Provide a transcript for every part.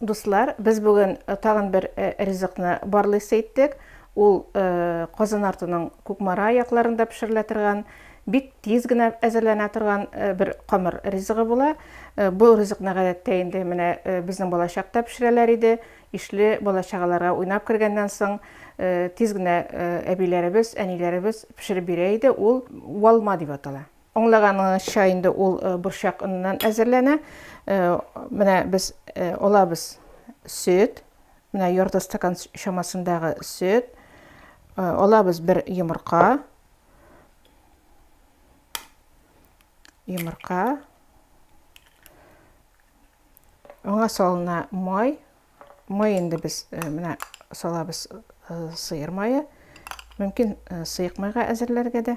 Дуслар, без бүген тагын бер ризыкны барлыйсы иттек. Ул Казан артының Кукмара якларында пешерелә торган, бик тиз генә әзерләнә торган бер камыр ризыгы була. Бу ризыкны гадәттә инде менә безнең балачакта пешерәләр иде. Ишле балачагаларга уйнап кергәннән соң, тиз генә әбиләребез, әниләребез пешереп бирә иде. Ул валма дип атала. Аңлаганыңызча инде ул борчак оныннан әзерләнә. Менә без алабыз сөт, менә ярты стакан чамасындагы сөт, алабыз бер йомырка, йомырка, аңа салына май, май инде без менә салабыз сыер мае, мөмкин сыек майга әзерләргә дә.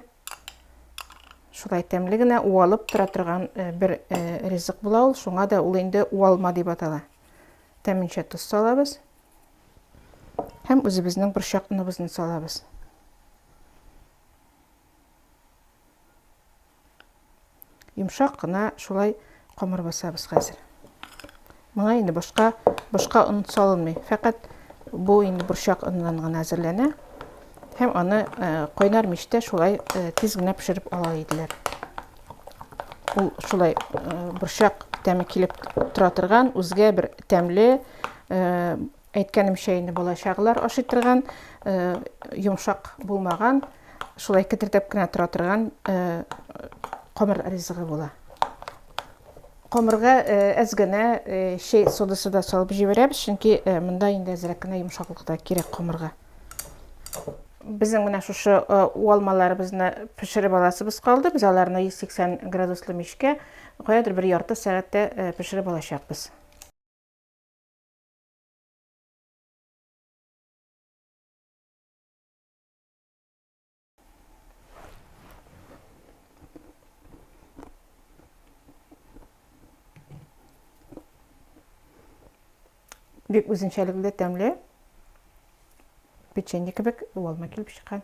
Шулай тәмле генә уалып тора торган э, бер э, ризык була ул. Шуңа да ул инде уалма дип атала. Тәминчә тоз салабыз. Һәм үзебезнең борчак оныбызны салабыз. Йомшак кына шулай камыр басабыз хәзер. Моңа инде башка башка он салынмый. Фәкать бу инде борчак оннан гына әзерләнә. Һәм аны кайнар мичтә шулай тиз генә пешереп ала иделәр. Ул шулай борчак тәме килеп тора торган, үзгә бер тәмле Әйткәнемчә инде балачагылар ашый торган, йомшак булмаган, шулай кетердәп кенә тора торган камыр ризыгы була. Камырга әз генә чәй содасы да салып җибәрәбез, чөнки монда инде әзрәк кенә йомшаклык та кирәк камырга. Безнең менә шушы уалмаларыбызны пешереп аласыбыз калды. Без аларны 180 градуслы мичкә каядыр бер ярты сәгатьтә пешереп алачакбыз. бик үзенчәлекле тәмле печенье кебек уалма килеп чыккан